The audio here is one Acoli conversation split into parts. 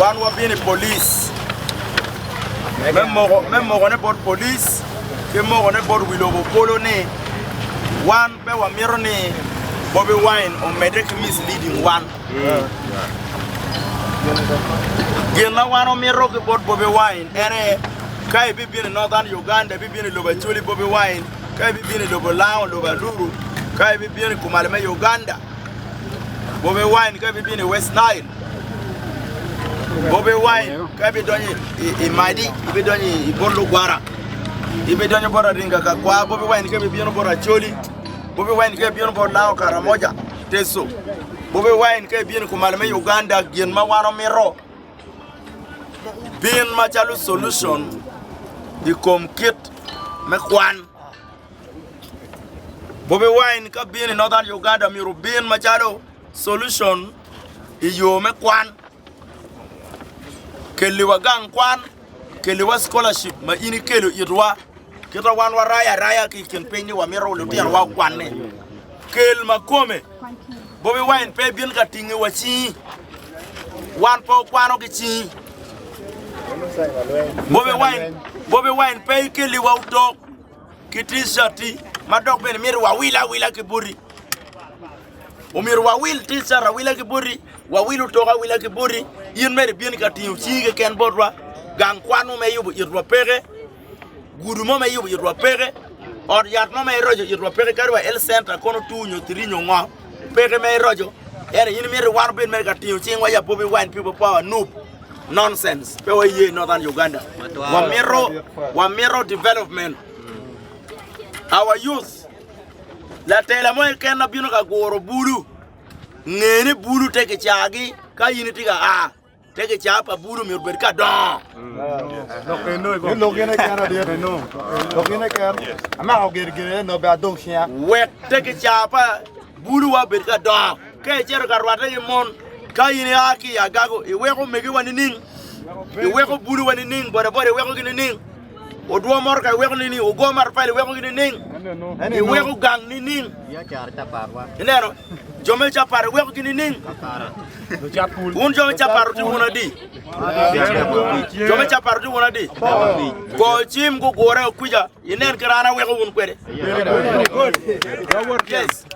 Wan wabino i polic me mokone bot polic ki mokone bot wi lobo bolo ni wan pe wamito ni Bobi Wine omedde ki misleading wan. Gin ma wan wamito ki bot Bobi Wine en aye ka ibibino i Northern Uganda, ibibino i lobo Acholi Bobi Wine, ka ibibino i lobo Lango, lobo Aluru, ka ibibino i kumalme Uganda, Bobi Wine ka bibino i West Nile, Bobi Wine ka bidonyo i Madi, bidonyo i bot lugwara, bidonyo bot Aringa ka kwa, Bobi Wine ka bibino bot Acholi, Bobi Wine ka bibino bot Lango Karamoja, Teso, Bobi Wine ka bibino kumalo me Uganda gin ma wan omito bin macalo solution i kom kit me kwan. Bobi Wine ka bino i Northern Uganda myero obin macalo solution i yo me kwan. Kelliwa gang kwan, kelliwa scholarship ma in ikelo itwa. Kita wan warayo araya ki i kin piny ni wamito lutinowa okwanne. Kel makome, Bobi Wine pe ibin ka tingi wa cingi. Wan pe wakwano ki cingi. Bobi Wine pe ikelliwa otok. ki T-cati ma dok bene myero wawil awila ki boti. Omyero wawil T-cati awila ki boti, wawil otok awila ki boti, in mere ibin ka tingo cingi keken botwa, gang kwan mo ma iyubo itwa peke, gudu mo ma iyubo itwa peke, ot yat mo ma iroco itwa peke kadi wa health center kono two nyo three nyo ngo. Peke me iroco, ento in imito wan obed mere ka tingo cingwa i abobi wine people power, nup. Nonsense. Pe wa iye Northern Uganda. Wa mito, wa mito development. Our youth. Latela mo eken na bino ka guro bulu. Ngeni bulu te ki cagi ka in iti ka a. Te gicaa pa bulu myero obed ka dongo. Lok eno i kom. Lok eno kena dit eno. Lok eno kena. Amako gir gir eno nobe adong siya. Wek te gicaa pa bulu wa obed ka dongo. Ka iceto ka rwate gi mon, ka in ia ki i agago, iweko megiwa nining? Iweko bulu wa nining? Boda boda iweko gi nining? Odwo moro ka iweko nining? Ogo matafali iweko gi nining? Iweko gang nining? Ineno? Jo me capat iweko gi nining? Wun jo me capat wutye wun adi? Jo me capat wutye wun adi? Go cim gugure o kwica, inen kit an aweko wun kwede. Yes.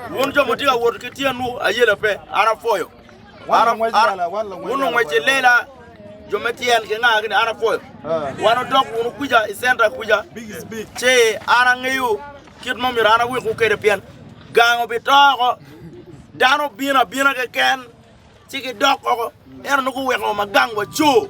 Wun jo mutye ka wot ki tyenwu ayela pe, an apwoyo. Wun ongwec i lela, jo me tyen ki nga kini an apwoyo. Wan odok wunu kuca i centa kuca, ci an angeyo kit ma myero an awikwu kwede pien gang obito oko, dano bino abina keken ci gidok oko, ento nongo guweko wa ma gang waco.